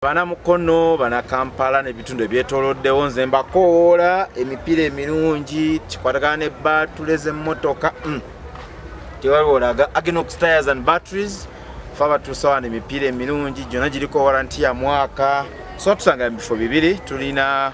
bana mukono bana kampala nebitundu ebyetoloddewo nze mbakowoola emipiira emirungi kikwatagana ne batule zemotoka mm. tewaliwolaga agenox tires and batteries fe abatuusawana emipiira emirungi gyona giriko waranti ya mwaka so tusanga mubifo bibiri tulina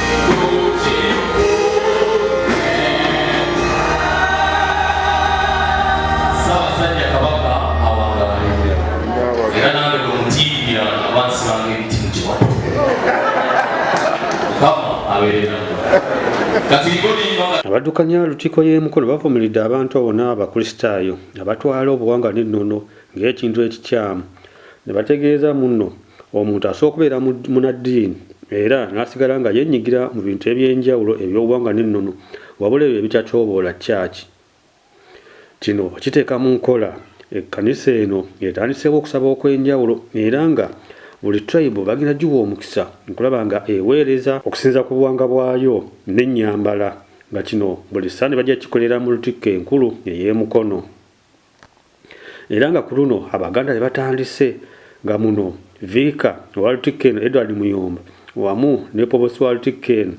abaddukanya lukiiko y'emukolo bavumiridde abantu abo n'abakristaayo abatwala obuwanga n'ennono ng'ekintu ekikyamu ne bategeeza munno Omuntu asobola okubeera munaddiini era n'asigala nga yenyigira mu bintu eby'enjawulo eby'obuwanga n'ennono wabula ebyo ebitatyoboola kyaki. Kino kiteeka mu nkola ekkanisa eno etandiseewo okusaba okw'enjawulo era nga buli tribe bagenda giwa omukisa okulaba nga eweereza okusinza ku buwanga bwayo n'ennyambala nga kino buli sande bajja kikolera mu lutikko enkulu ey'emukono. era nga ku luno abaganda be batandise nga muno viika waltiken edward muyomba wamu ne pobosi waltiken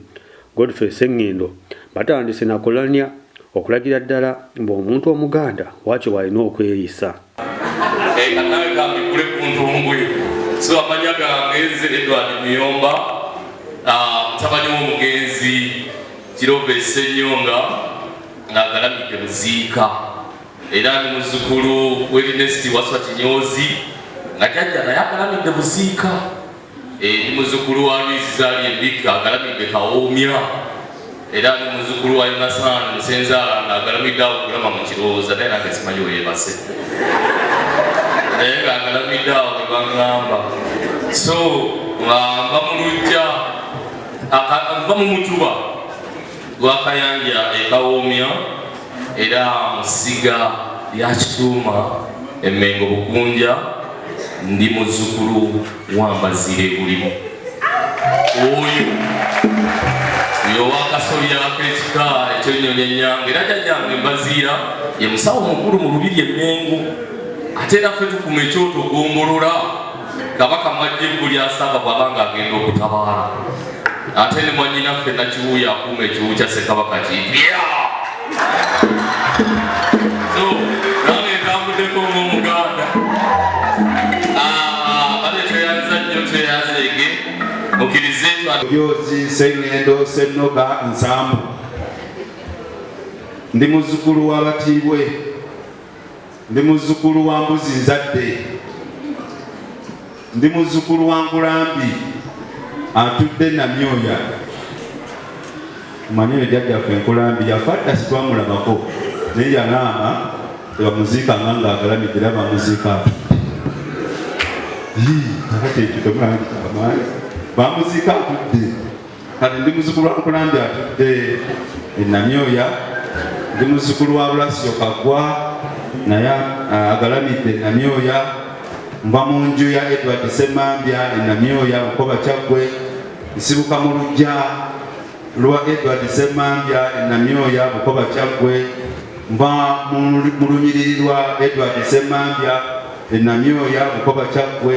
godfrey sengendo batandise nakulanya okulagira ddala mbu omuntu omuganda wakyo bwalina okweyisa mutabani womugenzi kirova esenyonga ng'agalamidde muziika era ni muzzukulu w'erinesti waswa kinyoozi nga jajja naye agalamidde muziika eh, ni muzzukulu wa lwizi zaali embikka agalamidde kawoomya era ni muzzukulu wa yonasaani musenzaala nga agalamidde awo kulama mu kirowooza naye nange simanyi weyebase naye nga agalamidde awo ne baŋŋamba so nga mba mu lujja mba mu mutuba Lwakayanja e Kawomya era mu ssiga lya Kituuma e Mmengo Bukunja. Ndi muzzukulu wa Mbaziire Bulimu. Oyo oyo wakasolya k'ekika eky'ennyonyi ennyange era jajjange Mbaziira ye musawo mukulu mu Lubiri e Mmengo ate era ffe tukuma ekyoto gombolola Kabaka mwajja evvu lya Ssaava bw'aba nga agenda okutabaala ate ne mwannyinaffe Nakiwuuya akuuma ekiwu kya Ssekabaka Kiibi. So nange ntambuddeko ng'Omuganda. Ah, bale tweyanza nnyo tweyanzeege mukkirize twa Joozi Ssengendo Ssennoga Nsambu. Ndi muzzukulu w'Abatiibwe Ndi muzzukulu wa mbuzi nzadde, ndi muzzukulu wa nkulambi atudde namyoya. Mmanyi oyo jjajjaffe nkulambi yafa dda sitwamulabako naye yalaama tebamuziika nga ngaagalamidde era bamuziika atudde. Yii, kakati ekyo temulangika amaanyi. Bamuziika atudde. kati ndi muzukulu wa nkulambi atudde enamyoya ndi muzukulu wa bulasiyo kagwa naye ah, agalamidde enamyoya mba mu nju ya edward semambya enamyoya bukoba kyaggwe nsibuka mu lujja lwa edward semambya enamyoya bukoba kyaggwe mba mu lunyiriri lwa edward semambya enamyoya bukoba kyaggwe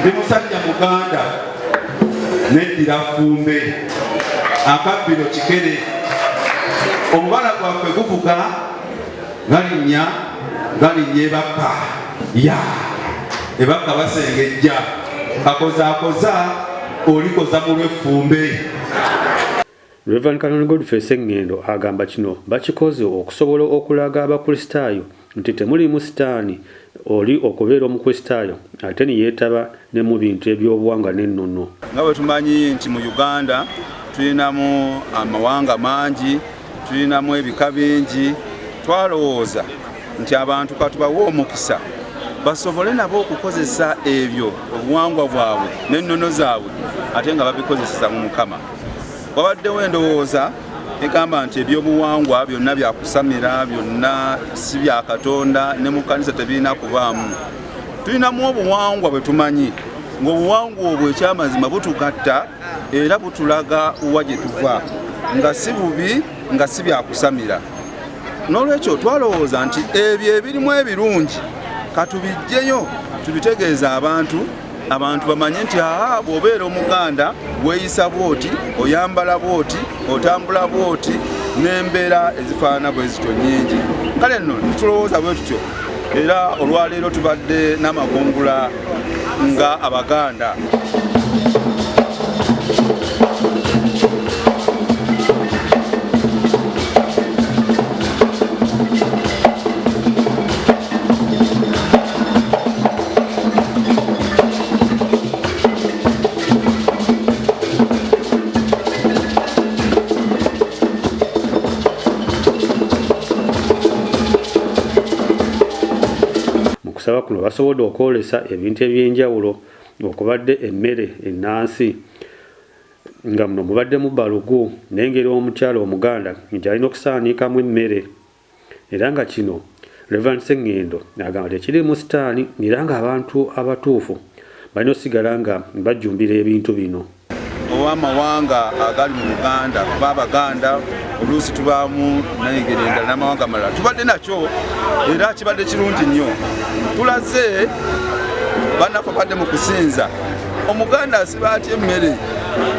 ndi musajja muganda neddira fumbe akabbiro kikere omubala gwaffe guvuga galinnya galinnya ebakka ya ebakka basengejja kakozakoza olikoza mu lweffumbe Rev. Canon Godfrey Ssengendo agamba kino bakikoze okusobola okulaga abakristaayo nti temuliimu sitaani oli okubeera omukristaayo ate neyetaba ne mu bintu eby'obuwangwa n'ennono. Nga bwe tumanyi nti mu Uganda tulinamu amawanga mangi, tulinamu ebika bingi, twalowooza nti abantu katubawe omukisa basobole nabo okukozesa ebyo obuwangwa bwabwe n'ennono zaabwe ate nga babikozeseza mu Mukama. wabaddewo endowooza egamba nti ebyobuwangwa byonna byakusamira byonna si bya katonda ne mu kkanisa tebirina kubaamu tulinamu obuwangwa bwe tumanyi ng'obuwangwa obwo ekyamazima butugatta era butulaga wa gye tuva nga si bubi nga si byakusamira n'olwekyo twalowooza nti ebyo ebirimu ebirungi katubijjeyo tubitegeeza abantu abantu bamanye nti aa bw'obeera omuganda weeyisa bwoti oyambala bwoti otambula bwoti n'embeera ezifaanana bwe zityo nnyingi kale nno nitulowooza bwe tutyo era olwaleero tubadde n'amakungula nga abaganda okusaba kuno basobodde okwolesa ebintu ebyenjawulo okubadde emmere ennansi nga muno mubaddemu balugu n'engeri omukyala omuganda nti alina okusaanikaamu emmere era nga kino Reverend Sengendo agamba tekirimu sitaani era nga abantu abatuufu balina osigala nga bajjumbira ebintu bino. Ow'amawanga agali mu Buganda kuba Abaganda oluusi tubaamu nayengeri endala n'amawanga malala tubadde nakyo era kibadde kirungi nnyo tulaze bannaffe badde mu kusinza. omuganda asiba atya emmere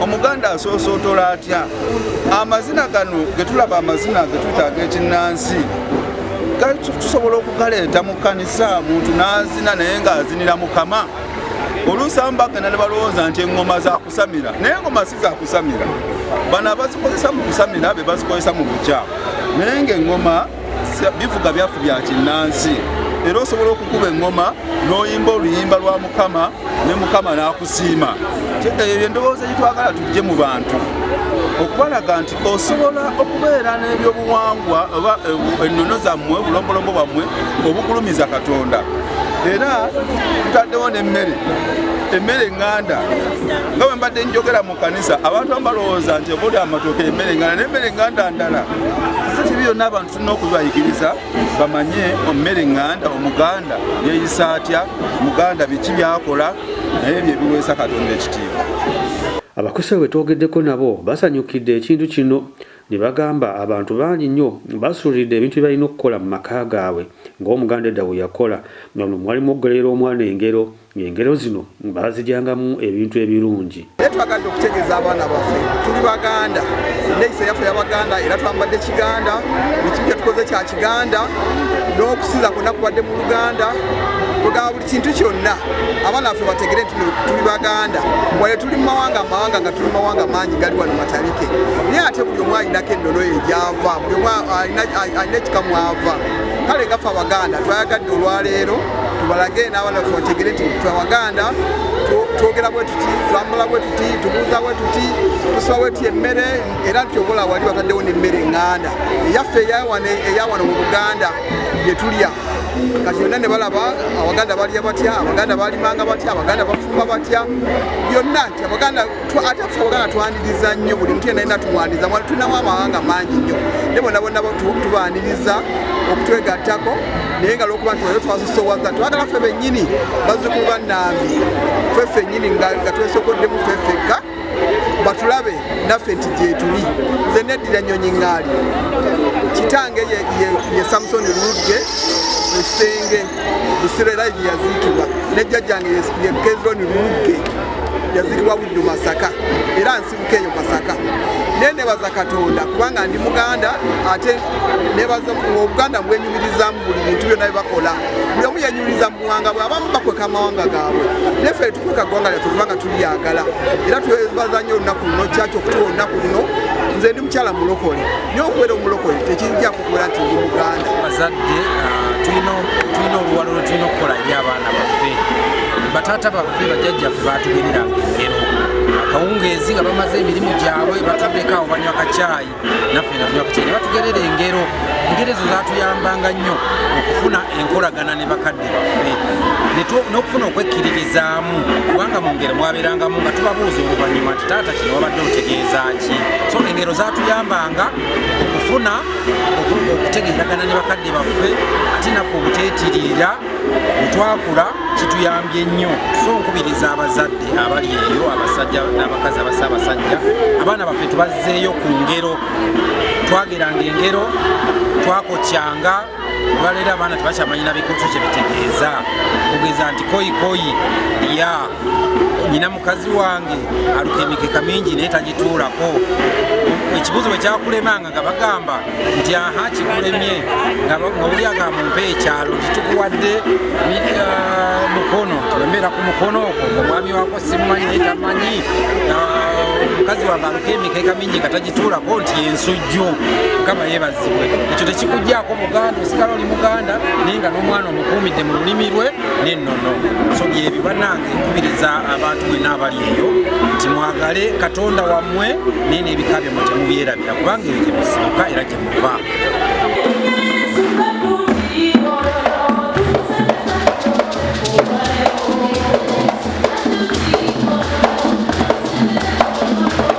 omuganda asoosootola atya amazina gano getulaba amazina getutaaga ekinnansi tusobola okugaleeta mu kkanisa muntu n'azina naye ng'azinira mukama oluusi amu bagenda ne balowooza nti eŋŋoma zakusamira naye eŋŋoma si zakusamira bano abazikozesa mu kusamira be bazikozesa mu bukyamu naye ng'eŋŋoma bivuga byafu bya kinnansi era osobola okukuba eŋŋoma n'oyimba oluyimba lwa mukama ne mukama n'akusiima eyo yendowooza gyetwagala tujje mu bantu okubalaga nti osobola okubeera n'ebyobuwangwa oba eh, ennono zammwe obulombolombo bwammwe obugulumiza katonda era tutaddewo n'emmere emmere eŋŋanda nga bwe mbadde njogera kanisa abantu abalowooza nti obuli amatooke emmere enganda n'emmere enganda ndala kati ebyo byonna abantu tulina okubayigiriza bamanye ommere enganda omuganda yeeyisa atya muganda biki byakola naye ebyo ebiweesa katonda ekitiibwa abakusa bwe twogeddeko nabo basanyukidde ekintu kino ne bagamba abantu bangi nnyo basuulidde ebintu bye balina okukola mu maka gaabwe ng'omuganda edda bwe yakola nga luno mwalimu okugolerera omwana engero Ng'engero zino baazigyangamu ebintu ebirungi. Naye twagadde okutegeeza abaana baffe tuli Baganda, enneeyisa yaffe ya Baganda era twambadde Kiganda, buli kimu kye tukoze kya Kiganda, n'okusinza kwonna kubadde mu Luganda kugaba buli kintu kyonna abaana baffe bategere nti tuli baganda wale tuli mumawanga amawanga nga tuli mumawanga mangi gali wano matabike naye ate buli omu alinako ennono ye gyava buli omu alina ekikamwava kale gaffe abaganda twayagadde olwaleero tubalage n'abaana baffe bategere nti ffe abaganda twogera bwe tuti twambula bwe tuti tubuuza bwe tuti tusiba bwe tuti emmere era nti obola wali bataddewo n'emmere enganda eyaffe eyawano mu buganda gye tulya kati yonna ne balaba abaganda balya batya abaganda balimanga batya abaganda bafumba batya byonna nti abaganda ate ffe obuganda twaniriza nnyo buli mtu yena yena tuwaniriza wali tulinawo amawanga mangi nnyo naye bona bona tubaniriza okutwegattako naye nga lwokuba nti wali twasusowaza twagala ffe bennyini bazzukulu ba nambi ffe ffennyini nga twesokoddemu ffe ffekka batulabe naffe nti gyetuli nze neddira nnyonyi ŋŋaali kitange ye samusoni lugge ekisenge Busiro era yaziikibwa ne jjajjange ye Kezironi Lulugge yaziikibwa Buddu Masaka era nsibuka eyo Masaka naye nebaza Katonda kubanga ndi muganda ate nebaza obuganda bwenyumirizamu buli bintu byonna byebakola buli omu yenyumiriza mu buwanga bwe abamu bakweka amawanga gaabwe naye ffe tukweka ggwanga lyaffe kubanga tulyagala era twebaza nnyo olunaku luno kyaki okutuwa olunaku luno nze ndi mukyala mulokole naye okubeera omulokole tekijja okubeera nti ndi muganda bazadde ah, tulina oluwalo lwe tulina okukola eri abaana baffe bataata baffe bajjajjaffe baatugereranga engero akawungeezi nga bamaze emirimu gyabwe batuddeko awo banywa kacyayi naffe nga tunywa kacyayi ne batugerera engero engero ezo zatuyambanga nnyo okufuna enkolagana ne bakadde baffe n'okufuna okwekkiririzaamu kubanga mu ngero mwabeerangamu nga tubabuuza oluvannyuma nti taata kino wabadde otegeeza ki so engero zatuyambanga okufuna okutegeeragana ne bakadde baffe ate naffe obuteetiriira bwetwakula kituyambye nnyo so nkubiriza abazadde abali eyo abasajja n'abakazi abasa abasajja abaana baffe tubazzeeyo ku ngero twageranga engero twakokyanga olwaleero abaana tebakyamanyi na bikutu kye bitegeeza kugeza nti koyi koyi ya nyina mukazi wange aluka emikeka mingi naye tagituulako ekibuzo bwe kyakulemanga nga bagamba nti aha kikulemye nga oli agamba mpa ekyalo kitukuwadde uh, mukono tiwembeera ku mukono ogwo omwami wako simumanyi naye tamanyi uh, omukazi wange aluka emikeka bingi nga tagituulako nti ensujju mukama yebazibwe ekyo tekikujjaako muganda osigala oli muganda naye nga n'omwana omukuumidde mu lulimi lwe n'ennono so byebyo banange nkubiriza abantu mwena abali eyo nti mwagale katonda wammwe naye n'ebika bye mutemubyerabira kubanga ebyo gye musibuka era gye muva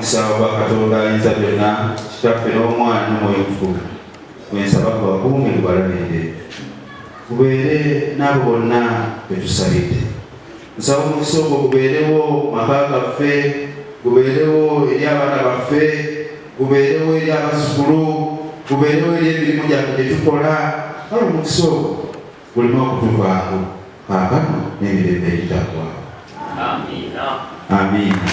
nsaba katonda ayinza byonna kitaffe n'omwana n'omwoyo omutukuvu gwensaba kubakuume kubalabirire kubeere n'abo bonna betusabidde nsaba omukisa ogwo gubeerewo maka gaffe gubeerewo eri abaana baffe gubeerewo eri abazukulu gubeerewo eri emirimu gyaffe gye tukola kale omukisa ogwo Kulina okutuvaako kaakano n'emirembe egitaggwaawo. Amiina. Amiina.